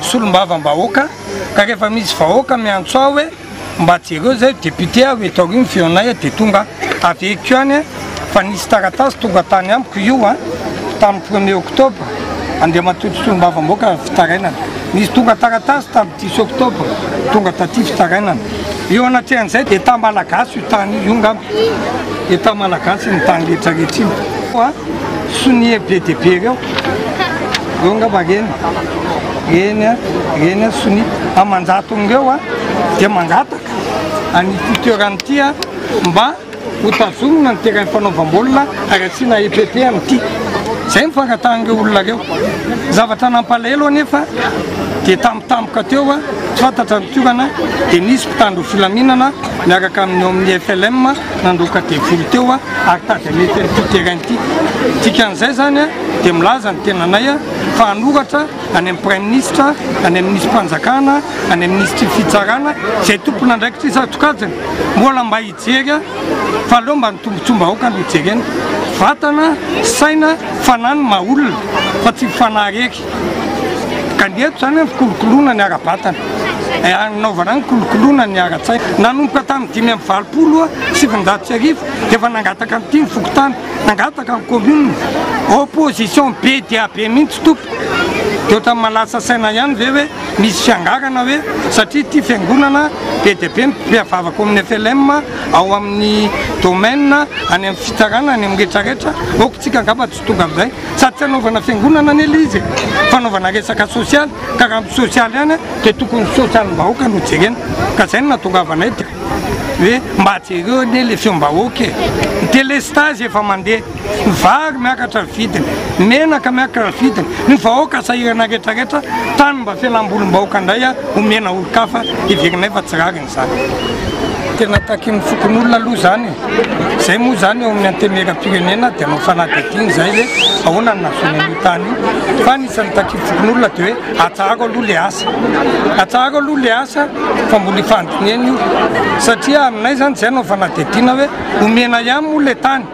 solombavambahoaka ka rehefa misy vahoaka miantso aho hoe mba jereo zay député aho eto aoriany feonay a de tonga averiko any fa nisy taratasy tonga tany amiko io a tamin'ny premier octobre andriamatoa solombavambahoaka fitarainana nisy tonga taratasy tam Six octobre, tonga taty fitarainana. Eo anatrehan'izay dia État malagasy io tany io ngamba. État malagasy iny tany rehetra rehetra iny. Fa sonia be dia be ireo. Ireo ngamba reny. Reny a, reny a, sonia. Aman-jatony ireo dia mangataka an'ity toerana ity mba. Hotazonina ny terrain fanaovam-baolina ary asiana EPP amin'ity. Izay ny fangatahan'ireo olona ireo. Ny zavatra nampalahelo anefa dia tampotampoka teo tsy fantatra ny toerana dia nisy mpitandro ny filaminana miaraka amin'ny ao amin'ny FLM nandroaka devoly teo ary tady hanety an'ity terrain ity. Dikan'izay izany dia milaza ny tenanay fa hanoratra any amin'ny Praiminisitra, any amin'ny Minisitrim-panjakana, any amin'ny Minisitry ny Fitsarana izay tompon'andraikitra isan-tsokajiny mbola mba Jereo fa aleo mba ny tombotsoam-bahoaka no jerena. Vatana, saina, fanahy no maha olona fa tsy ny fanahy irery. Ka ny eto izany an, fikolokoloana ny ara-batana, hanaovana ny kolokoloana ny ara-tsaina. Nanomboka tamin'ny dimy amby valopolo sy sivinjato sy arivo dia efa nangataka an'ity ny fokontany, nangataka ny commune. Opposition be dia be mihitsy tompoko. Dia ohatran'ny mahalasa saina ihany ve hoe. Misy fiangarana ve? Satria ity fiangonana be dia be ny mpihavavaka ao amin'ny FLM, ao amin'ny domaine, any amin'ny fitsarana, any amin'ny rehetra rehetra. Ok, tsika angamba tsy tonga amin'izay. Sady tsy hanaovana fiangonana anie ilay izy e! Fanaovana resaka sosialy, ka raha ampy sosialy ihany dia tokony ny sosialim-bahoaka no jerena. Ka izay no nahatongavanay dia hoe mba jereo anie ilay feom-bahoaka e! Ny delestazy efa mandeha. ny vary miakatra ny vidiny, ny menaka miakatra ny vidiny, ny vahoaka sahirana rehetra rehetra, tany mba fialambolim-bahoaka indray omena olon-kafa heverinay fa tsy rariny izany. Tena takin'ny fokonolona aloha izany e. Izay moa izany eo amin'ny antemeram-pirenena dia anao fanadihadiana izay hoe ahoana ny nahazoana an'io tany io. Fa ny isan'ny takin'ny fokonolona dia hoe atsaharo aloha ilay asa. Atsaharo aloha ilay asa fa mbola ifandinihana io. Satria aminay izany izay anao fanadihadiana hoe omena ihany moa ilay tany.